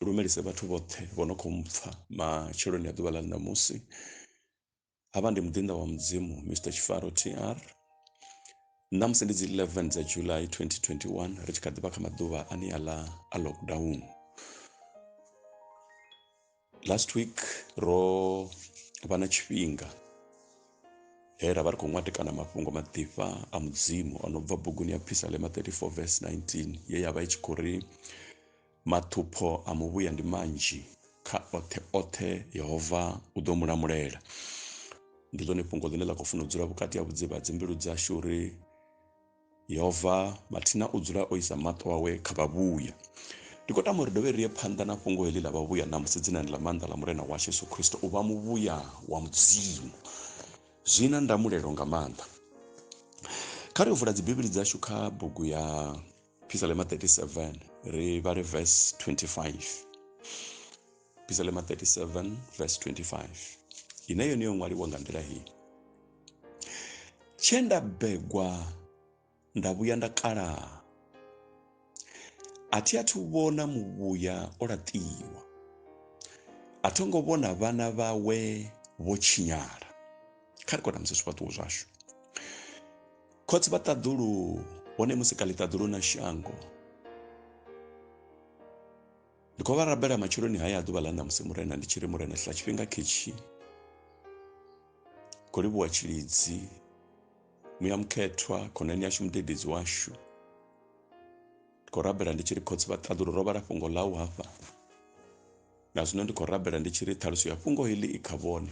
lumelise vhathu vhoṱhe vho no khou mpfha matsheloni a ḓuvha ḽa ṋamusi havha ndi muḓinḓa wa mudzimu mr tshifaro tr ṋamusi ndi dzi 11 dza july 2021 ri tshi kha ḓivha kha maḓuvha ane a ḽa a lockdown last week ro vha na tshifhinga he ra vha ri khou ṅwatekana mafhungo maḓifha a mudzimu o no bva buguni ya phisalema 34 vs 19 ye ya vha i tshi khou ri Maṱhupho a muvhuya ndi manzhi, kha oṱhe oṱhe Yehova u ḓo mu lamulela. Ndi ḽone fhungo ḽine ḽa khou funa u dzula vhukati ha vhudzivha ha dzimbilu dzashu uri Yehova mathina u dzula o isa maṱo awe kha vhavhuya. Ndi khou tama uri dovhe ri ye phanḓa na fhungo heḽi ḽa vhavhuya ṋamusi dzinani ḽa maanḓa ḽa Murena washu Yesu Kristo u vha muvhuya wa Mudzimu. Zwi na ndamulelo nga maanḓa. Kha ri vula dzibivhili dzashu kha bugu ya Phisalema 37 ri vhale verse 25 Phisalema 37 verse 25 ine yone yo ṅwaliwa nga nḓila hii tshe nda begwa nda vhuya nda kalaha a thi athu vhona muvhuya o laṱiwa a tho ngo vhona vhana vhawe vho tshinyala kha ri kona musi zwifhaṱuwo zwashu khotsi vha ṱaḓulu hone musi kha ḽiṱaḓulu na shango ndi khou vha rabela matsheloni haya a ḓuvha ḽa ṋamusi murena ndi tshi ri murena hla tshifhinga khetshi khou livhuwa tshilidzi muya mukhethwa khonani yashu mudededzi washu ndi khou rabela ndi tshi ri khotsi vha ṱaḓulu ro vhala fhungo ḽau hafha na zwino ndi khou rabela ndi tshi ri ṱhaluso ya fhungo heḽi i kha vhone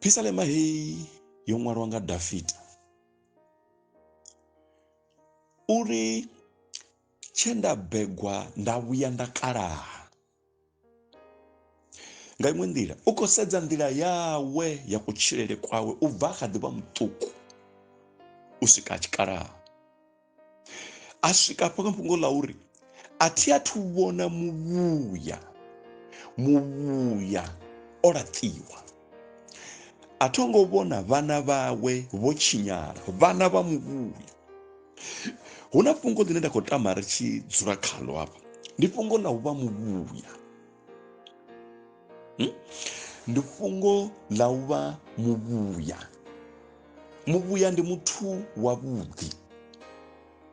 phisalema heyi yo ṅwalwa nga dafita uri tshe nda begwa nda vhuya nda kalaha nga iṅwe nḓila u khou sedza nḓila yawe ya kutshilele kwawe u bva a kha ḓi vha muṱuku u swika tshikalaha a swika afho kha fhungo ḽa uri a thi a thu vhona muvhuya muvhuya o laṱiwa a tho ngo vhona vhana vhawe vho tshinyala vhana vha muvhuya hu na fhungo ḽine nda khou tama ri tshi dzula khalo hafha ndi fhungo ḽa u vha muvhuya hmm? ndi fhungo ḽa u vha muvhuya muvhuya ndi muthu wavhuḓi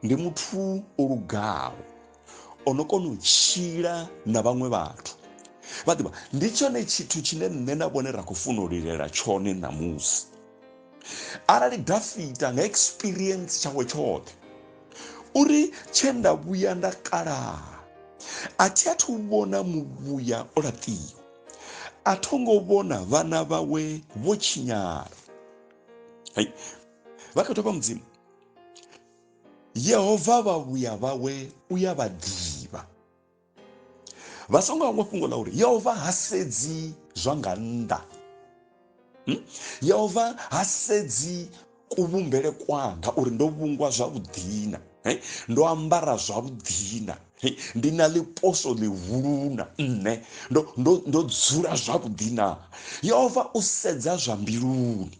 ndi muthu o lugaho o no kona u tshila na vhaṅwe vhathu vha ḓivha ndi tshone tshithu tshine nṋe na vhone ra khou funa u lilela tshone ṋamusi arali dafita nga experience tshawe tshoṱhe uri tshe nda vhuya nda kalaha a thi a thu vhona muvhuya o laṱiwa a tho ngo vhona vhana vhawe vho tshinyala hai vha kha thoma mudzimu yehova vha vhuya vhawe u ya vha ḓivha vha songo hangwa fhungo ḽa uri yehova ha sedzi zwa nga nnḓa Hmm? yehova ha sedzi kuvhumbele kwanga uri ndo vhungwa zwavhuḓina eh? ndo ambara zwavhuḓina eh? ndi na ḽiposo ḽihuluna nṋe ndo, ndo, ndo dzula zwavhuḓina yehova u sedza zwa mbiluni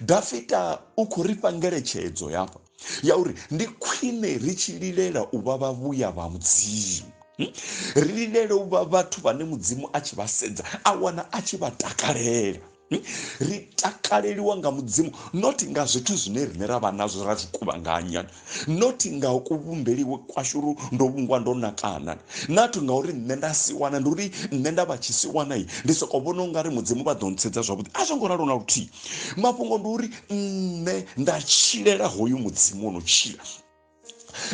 dafita u khou ri fha ngeletshedzo yafha ya uri ndi khwine ri tshi lilela u vha vhavhuya vha mudzimu hmm? ri lilele u vha vhathu vhane mudzimu a tshi vha sedza a wana a tshi vha takalela hmm? ri takaleliwa nga mudzimu not nga zwithu zwine rine ra vha nazwo ra zwi kuvhanganya not nga kuvhumbeliwe kwashu uri ndo vhungwa ndo nakana not nga uri nṋe nda si wana ndi uri nṋe nda vha tshi si wanai ndi soko vhona u nga ri mudzimu vha ḓo ntshedza zwavhuḓi a zwo ngo ralo na luthihi mafhungo ndi uri nṋe nda tshilela hoyu mudzimu o no tshila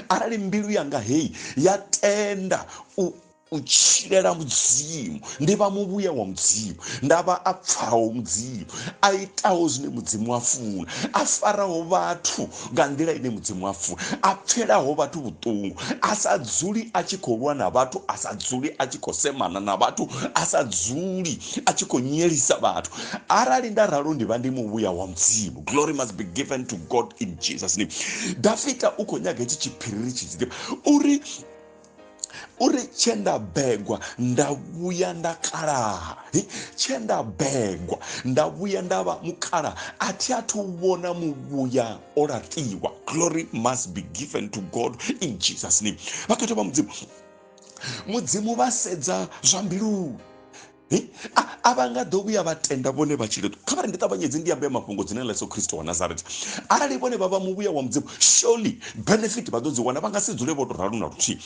arali mbilu yanga heyi ya tenda u u tshilela mudzimu ndi vha muvhuya wa mudzimu nda vha a pfaho mudzimu a itaho zwine mudzimu a funa a faraho vhathu nga nḓila ine mudzimu a funa a pfelaho vhathu vhuṱungu a sa dzuli a tshi khou lwa na vhathu a sa dzuli a tshi khou semana na vhathu a sa dzuli a tshi khou nyelisa vhathu arali nda ralo ndi vha ndi muvhuya wa mudzimu glory must be given to god in jesus name dafita u khou nyaga hetshi tshiphiriri tshidzike uri uri tshe nda begwa nda vhuya nda kalaha tshe nda begwa nda vhuya nda vha mukalaha a thi athu vhona muvhuya o laṱiwa glory must be given to god in jesus name vhakhethwa vha mudzimu mudzimu vha sedza zwa mbiluni a vha nga ḓo vhuya vha tenda vhone vha tshile kha vha ri ndi ṱavhanyedze ndi ambe mafhungo dzine ḽa yesu khristo wa nazareta arali vhone vha vha muvhuya wa mudzimu surely benefit vha ḓo dzi wana vha nga si dzule vho to ralo na luthihi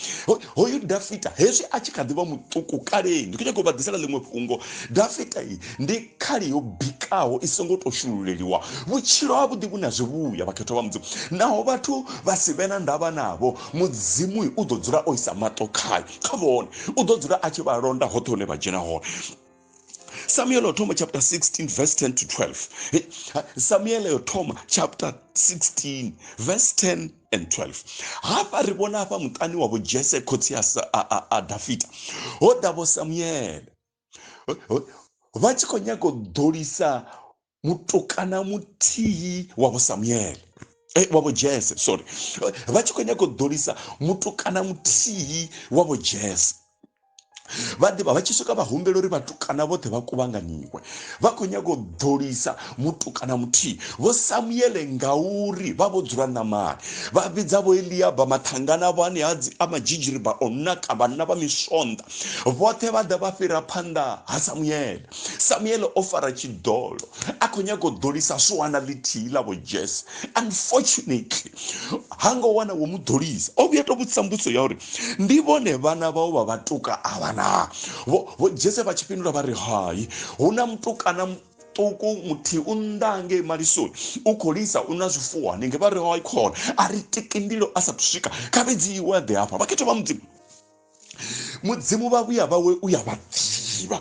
hoyu dafita hezwi a tshi kha ḓi vha muṱuku kaleni ndi khou nyaka u vha ḓisela ḽiṅwe fhungo dafita iyi ndi khali yo bikaho i songo to shululeliwa vhutshilo ha vhuḓi vhu na zwivhuya vhakhethwa vha mudzimu naho vhathu vha si vhe na ndavha navho mudzimu u ḓo dzula o isa maṱo khayo kha vhone u ḓo dzula a tshi vha londa hoṱhe hune vha dzhena hone samuel o thoma chapter 16 verse 10 to 12 samuel o thoma chapter 16 verse 10 and 12 hafha ri vhona hafha muṱani wavho jese khotsi a dafita ho davho samuele vha tshi khou nyaga u ḓolisa mutukana muthihi wa vho samuele eh, wa vho jese sorry vha tshi khou nyaga u ḓolisa mutukana muthihi wa vho jese vha ḓivha vha tshi swika vha humbela uri vhatukana vhoṱhe vha kuvhanganyiwe vha khou nyaga u ḓolisa mutukana muthihi vho samuele ngauri vha vho dzula namani vha vhidza vho eliaba mathangana vho aneadzi a madzhidzhiriba o naka vhanna vha misonḓa vhoṱhe vha ḓa vha fhira phanḓa ha samuele samuele o fara tshiḓolo a khou nyaga u ḓolisa swana ḽithihi ḽa vho jese unfortunately ha ngo wana wo mu ḓolisa o vhuya to vhudzisa mbudziso ya uri ndi vhone vhana vhau vha vhatuka avha na vho jese vha tshi fhindula vha ri hai hu na mutukana muṱuku muthihi u nnḓa ngei malisoni u khou lisa u na zwifuwo hanenge vha ri hai khona a ri tiki ndilo a sathu swika kha vhidziwe ḓe hafha vha khetho vha mudzimu mudzimu vha vhuya vhawe u ya vha ḓivha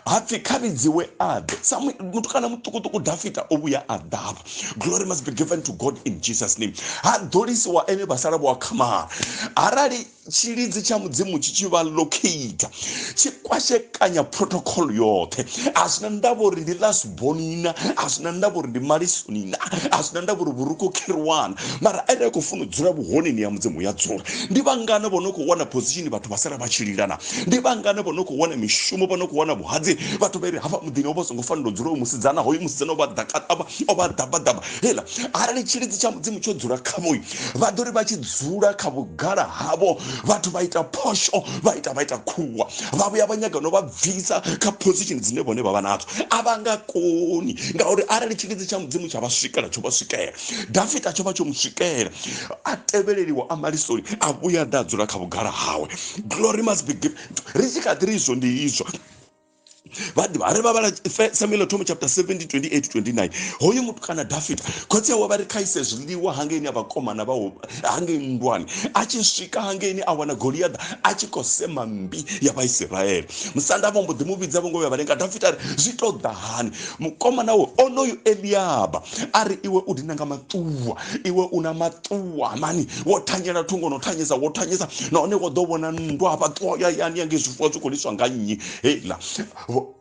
hapfi kha vhidziwe aḓe samuel mutukana muṱukuṱuku dafita o vhuya a ḓavha glory must be given to god in jesus name ha ḓolisiwa ene vha sala vho akhamala arali tshilidzi tsha mudzimu tshi tshi vha locate tshi kwashekanya protocol yoṱhe a zwina ndavha uri ndi last boni na a zwi na ndavha uri ndi malisoni na a zwi na ndavha uri vhurukho kherwana mara ene a khou funa u dzula vhuhoneni ya mudzimu ya dzula ndi vhangana vho no khou wana position vhathu vha sala vha tshi lila na ndi vhangana vho no khou wana mishumo vho no khou wana vhuhadzi vhathu vha ri hafha muḓini ho vha songo fanela u dzula hoyu musidzana hoyu musidzana o vha ḓakaṱavha o vha ḓabaḓaba heiḽa arali tshilidzi tsha mudzimu tsho dzula khavhoyu vha ḓo ri vha tshi dzula kha vhugala havho vhathu vha ita phosho vha ita vha ita khuwa vha vhuya vha nyaga no vha bvisa kha position dzine vhone vha vha nadzo a vha nga koni ngauri arali tshilidzi tsha mudzimu tsha vha swikela tsho vha swikela dafita tsho vha tsho mu swikela a tevheleliwa a malisoni a vhuya ḓa a dzula kha vhugala hawe glory must be given ri tshi kha ḓi ri izwo ndi izwo vhaḓivha ri vha vhala samuel thomo chapter 17 28 29 hoyu muthu kana dafita khotsi awe vha ri khaise zwiḽiwa hangeini a vhakomana vha hangei nndwani a tshi swika hangeini a wana goliaḓa a tshi khou sema mmbi ya vhaisiraele musanda vho mbo ḓi mu vhidza vho ngo vhuya vha lenga dafita ari zwi tou ḓa hani mukomana wo onoyu eliaba a ri iwe u dina nga maṱuwa iwe u na maṱuwa mani wo thanyela thungo no thanyesa wo thanyesa nahone wo ḓo vhona nndwa hafha ṱuwa ya yani ya nge zwifuwo zwi khou liswa nga nnyi heiḽa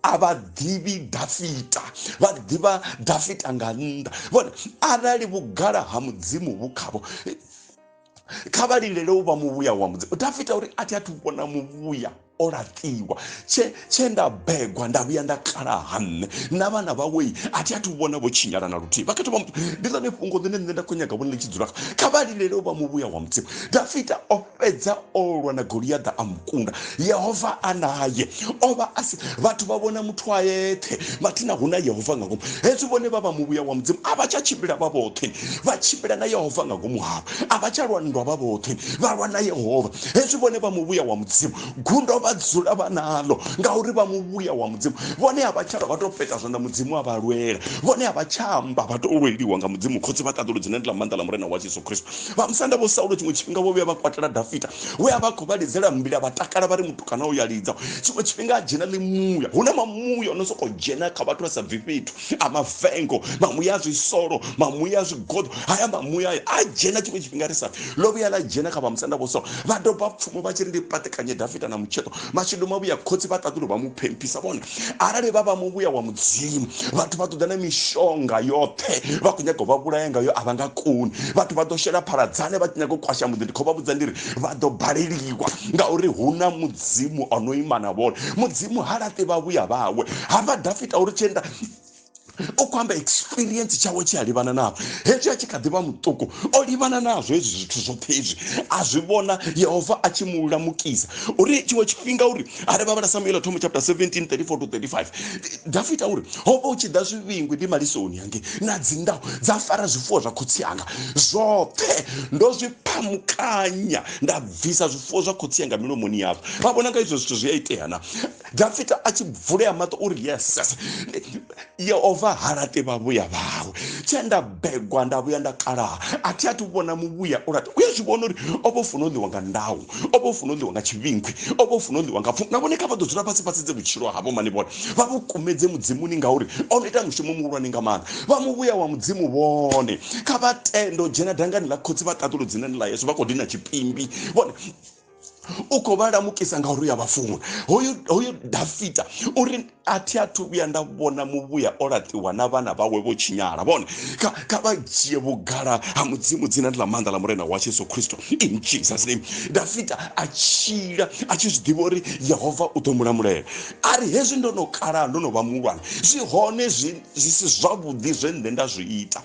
a vha ḓivhi dafita vha ḓivha dafita nga nnḓa vhone arali vhugala ha mudzimu vhu khavho kha vha lindele u vha muvhuya wa mudzimu dafita uri a thi a thu vhona muvhuya o laṱiwa tshe tshe nda begwa nda vhuya nda kala ha nṋe na vhana vhawei a thi a thu vhona vho tshinyala na luthihi vhakhetho vha muthu ndi ḽone fhungo ḽine nṋe nda khou nyaga vhone ḽi tshi dzula kha vha lindele u vha muvhuya wa mudzimu dafita o fhedza o lwa na goliaḓa a mukunda yehova a naye o vha a si vhathu vha vhona muthu a yeṱhe vhathi na hu na yehova nga ngomu hezwi vhone vha vha muvhuya wa mudzimu a vha tsha tshimbila vha vhoṱhe vha tshimbila na yehova nga ngomu havho a vha tsha lwa nndwa vha vhoṱhe vha lwa na yehova hezwi vhone vha muvhuya wa mudzimu gundo vha dzula vha nalo ngauri vha muvhuya wa mudzimu vhone a vha tsha lwa vha tou peta zwanḓa mudzimu a vha lwela vhone a vha tsha amba vha tou lweliwa nga mudzimu khotsi vha ṱaḓulu dzine ndi ḽa maanḓa ḽa murena wa jesu kristo Vhamusanda Vho Saulo tshiṅwe tshifhinga vho vhuya vha kwatela Dafita we a vha a khou vha lidzela mbila vha takala vha ri, Mutukana uyo a lidza. Tshiṅwe tshifhinga a dzhena ḽi muya. Hu na mamuya o no sokou dzhena kha vhathu vha sa bvi fhethu, a mavengo, mamuya a zwisolo, mamuya a zwigoḓo. Haya mamuya haya a dzhena tshiṅwe tshifhinga ri sa pfi. Ḽo vhuya ḽa dzhena kha Vhamusanda Vho Saulo, vha doba pfumo vha tshi ri ndi paṱekanye Dafita na mutsheṱo. mashedu mavhuya khotsi vha ṱaḓulu vha mu phemphisa vhona arali vha vha muvhuya wa mudzimu vhathu vha ṱoḓa na mishonga yoṱhe vha khou nyaga u vha vhulaya ngayo a vha nga koni vhathu vha ḓo shela phaladzane vha tshi nyaga u kwasha muḓi ndi khou vha vhudza ndi ri vha ḓo baleliwa ngauri hu na mudzimu o no ima na vhone mudzimu ha laṱi vhavhuya vhawe ha vha dafita uri tshienda o khou amba experience tshawe tshi a livhana navho hezwi a tshi kha ḓivha muṱuku o livhana nazwo hezwi zwithu zwoṱhe hezwi a zwi vhona yehova a tshi mu lamukisa uri tshiṅwe tshifhinga uri a ri vhavhala samuela thomo chapter 17 34 to 35 dafita uri ho vha u tshi ḓa zwivhingwi ndi malisoni hange na dzindaho dza fara zwifuwo zwa khotsi anga zwoṱhe ndo zwi phamukanya nda bvisa zwifuwo zwa khotsi anga milomoni yavho vha vhona nga izwo zwithu zwi a itea na dafita a tshi vulea maṱo uri yes yehova ha laṱi vhavhuya vhawe tshe nda begwa nda vhuya nda kalaha a thi a thi vhona muvhuya u laṱi u ya zwi vhona uri o vha funa u ḽiwa nga ndau o vha funa u ḽiwa nga tshivhinkhwi o vha funa u ḽiwa nga pfu na vhone kha vha ḓo dzula fhasi fhasi dze vhutshilo havho mani vhone vha vhu kumedze mudzimuni ngauri o no ita mushumo muhulwane nga maanḓa vha muvhuya wa mudzimu vhone kha vha tendo dzhena dangani ḽa khotsi vha ṱaṱulo dzinani ḽa yesu vha khou dina tshipimbi vhone u khou vha lamukisa nga uri ya vha funwa hoyu hoyu dafita uri a thi a thu vhuya nda vhona muvhuya o laṱiwa na vhana vhawe vho tshinyala vhone kha kha vha dzhie vhugala ha mudzimu dzina ndi ḽa maanḓa ḽa murena wa jesu khristo in jesus name dafita a tshila a tshi zwi ḓivha uri yehova u ḓo mulamulela a ri hezwi ndo no kalaha ndo no vha muhulwane zwi hone zwi si zwavhuḓi zwe nṋe nda zwi ita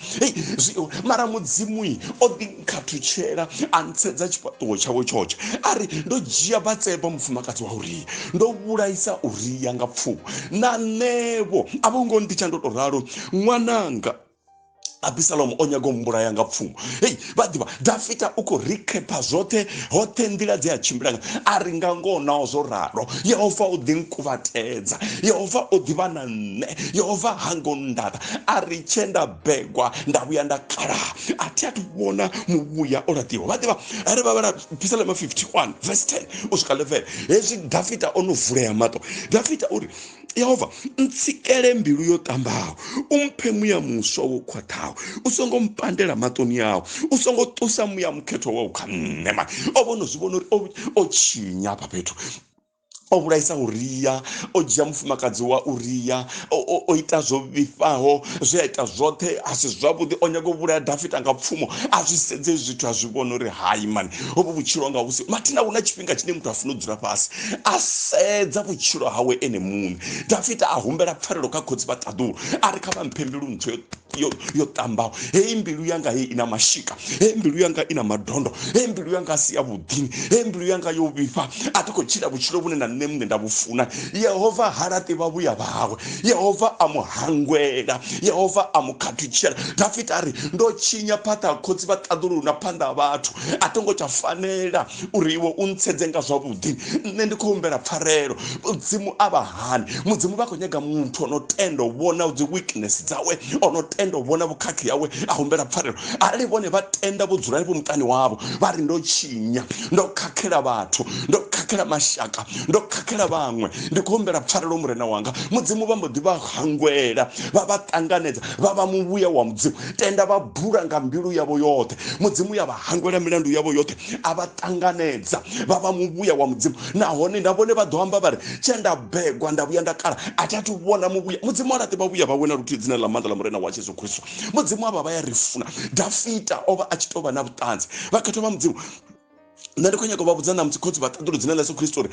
mara mudzimu o ḓi khathutshela a ntsedza tshifhaṱuwo tshawe tshotshe a ri ndo dzhia batseba mufumakadzi wa uria ndo vhulaisa uria nga pfuwo na nṋevho a vho ngo nditsha ndo to ralo ṅwananga abisalomo o nyaga u mbulaya nga pfumo hei vha ḓivha dafita u khou rikhepha zwoṱhe hoṱhe nḓila dze a tshimbila nga a ri nga ngoho naho zwo ralo yehova o ḓi nkuvatedza yehova o ḓivha na nṋe yehova ha ngo nndata a ri tshenda bebwa nda vhuya nda kala a thi a thu vhona muvhuya o laṱiwa vha ḓivha are vha vhala pisalema 51 vese 10 u swika 11 hezwi dafita o no vulea maṱo dafita uri yehova ntsikele mbilu yo ṱambaho u mphe muya muswa wo khwaṱhaho u songo mpandela maṱoni awo u songo ṱusa muya mukhethwa wau kha nṋe mani o vhono zwi vhona uri o tshinya afha fhethu o vhulaisa uria o dzhia mufumakadzi wa uria o ita zwo vhifhaho zwe a ita zwoṱhe a si zwavhuḓi o nyaga u vhulaya dafita nga pfumo a zwi sedze zwithu a zwi vhona uri hai mani hovho vhutshilo nga vhusi mathina hu na tshifhinga tshine muthu a funa u dzula fhasi a sedza vhutshilo hawe ene muṋe dafita a humbela pfarelo kha khotsi vha ṱaḓulu a ri kha vha mphe mbilu ntswe yo yo ṱambaho heyi mbilu yanga heyi ina mashika heyi mbilu yanga ina madondo heyi mbilu yanga a si ya vhuḓini heyi mbilu yanga yo vhifha a thi khou tshila vhutshilo vhune na nṋe muṋe nda vhu funa yehova ha laṱi vhavhuya vhawe yehova a mu hangwela yehova a mu khathutshela dafita a ri ndo tshinya phaṱha khotsi vha ṱaḓulu na phanḓa ha vhathu a thi ngo tsha fanela uri iwe u ntshedze nga zwavhuḓi nṋe ndi khou humbela pfarelo mudzimu a vha hani mudzimu vha khou nyaga muthu o no tenda u vhona dzi weakness dzawe o no tenda u vhona vhukhakhi yawe a humbela pfarelo arali vhone vha tenda vho dzula vho muṱani wavho vha ri ndo tshinya ndo khakhela vhathu ndo khakhela mashaka ndo khakhela vhaṅwe ndi khou humbela pfarelo murena wanga mudzimu vha mbo ḓi vha hangwela vha vha ṱanganedza vha vha muvhuya wa mudzimu tenda vha bula nga mbilu yavho yoṱhe mudzimu ya vha hangwela milandu yavho yoṱhe a vha ṱanganedza vha vha muvhuya wa mudzimu nahone na vhone vha ḓo amba vha ri tshe nda begwa nda vhuya nda kala a thi athu vhona muvhuya mudzimu a laṱe vhavhuya vhawe na luthihi dzina ḽa maanḓa ḽa murena wa jesu kristu mudzimu a vha vha ya ri funa dafita o vha a tshi tou vha na vhuṱanzi vha khetho vha mudzimu nṋe ndi khou nyaka u vha vhudza ṋamusi khotsi vhaṱaḓulu dzina ḽa yesu khristu uri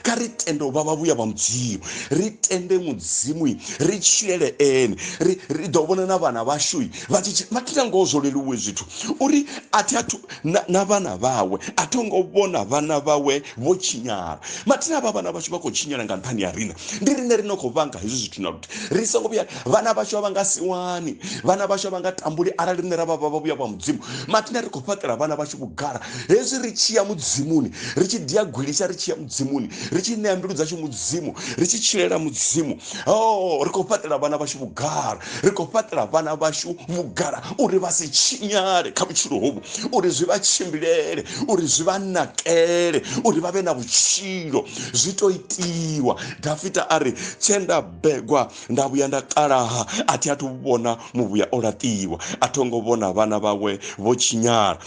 kha ri tende u vha vhavhuya vha mudzimu ri tende mudzimu ri tshilele ene ri ḓo vhona na vhana vhashu vha tshi mathina ngoho zwo leluwe zwithu uri a thi athu na, na vhana vhawe a tho ngo vhona vhana vhawe vho tshinyala mathina avha vhana vhashu vha khou tshinyala nga nṱhani ya rina ndi rine ri no khou vhanga hezwi zwithu na luthi ri songo vhuya vhana vhashu a vha nga siwani vhana vhashu a vha nga tambuli arali rine ra vha vha vhuya vha mudzimu mathina ri khou fhaṱela vhana vhashu vhugala hezwi ri tshi ya mudzimuni ri tshi ḓi ya gwilisa ri tshi ya mudzimuni ri tshi ṋea mbilu dzashu mudzimu ri tshi tshilela mudzimu o oh, ri khou fhaṱela vhana vhashu vhugala ri khou fhaṱela vhana vhashu vhugala uri vha si tshinyale kha vhutshilo hovhu uri zwi vha tshimbilele uri zwi vha nakele uri vha vhe na vhutshilo zwi to itiwa dafita a ri tshe nda begwa nda vhuya nda kalaha a thi athu vhona muvhuya o laṱiwa a tho ngo vhona vhana vhawe vho tshinyala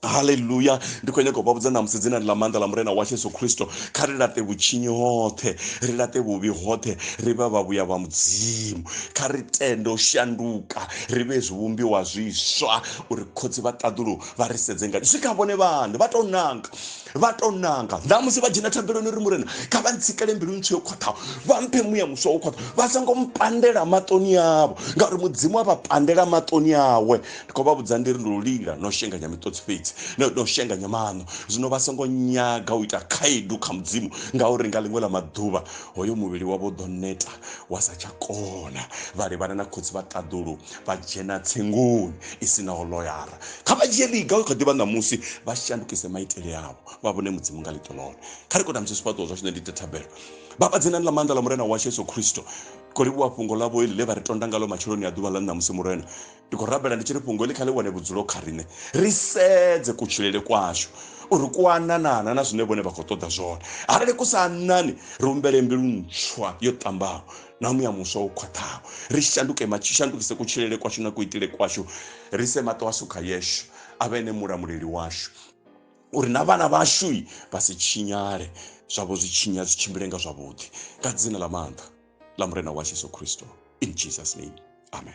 haleluya ndi khou nyanga u vha vhudza ṋamusi dzinani ḽa maanḓa ḽa murena wa yesu khristo kha ri laṱe vhutshinyi hoṱhe ri laṱe vhuvhi hoṱhe ri vha vhavhuya vha mudzimu kha ri tende u shanduka ri vhe zwivhumbiwa zwiswa uri khotsi vha ṱaḓulu vha ri sedze nga zwi kha vhone vhaṋe vha tou nanga vha to nanga nda musi vha dzhena thabeloni ri murena kha vha ntsikele mbilu ntswu yo khwaṱhaho vha mphe muya muswa wo khwaṱha vha songo mpandela maṱoni avho ngauri mudzimu a vha pandela maṱoni awe ndi khou vha vhudza ndi ri ndo lila no shenganya miṱotsi fhedzi no shenganya maṋo zwino vha songo nyaga u ita khaedu kha mudzimu ngauri nga ḽiṅwe ḽa maḓuvha hoyo muvhili wavho ḓo neta wa sa tsha kona vha livhana na khotsi vha ṱaḓulu vha dzhena tsengoni i si naho loyara kha vha dzhie ḽiga u kha ḓivha ṋamusi vha shandukise maitele avho vha vhone mudzimu nga ḽiṱo ḽone kha ri kona musi zwifhaṱuwo zwashu ne ndi tethabelo baba dzinani ḽa maanḓa ḽa murena washu yesu khristo khou livhuwa fhungo ḽavho ili ḽe vha ri tonda ngalo matsheloni a ḓuvha ḽa ṋamusi murena ndi khou rabela ndi tshi ri fhungo ili kha ḽi wane vhudzulo kha riṋe ri sedze kutshilele kwashu uri ku ananana na zwine vhone vha khou ṱoḓa zwone arali ku sa anani ri humbele mbilu ntswa yo ṱambaho na muya muswa wo khwaṱhaho ri shanduke matshi shandukise kutshilele kwashu na kuitele kwashu ri se maṱo ashu kha yeshu a vhe ene mulamuleli washu uri na vhana vhashu vha si tshinyale zwavho zwi tshinya zwi tshimbile nga zwavhuḓi nga dzina ḽa maanḓa ḽa murena wa jesu kristo in jesus name amen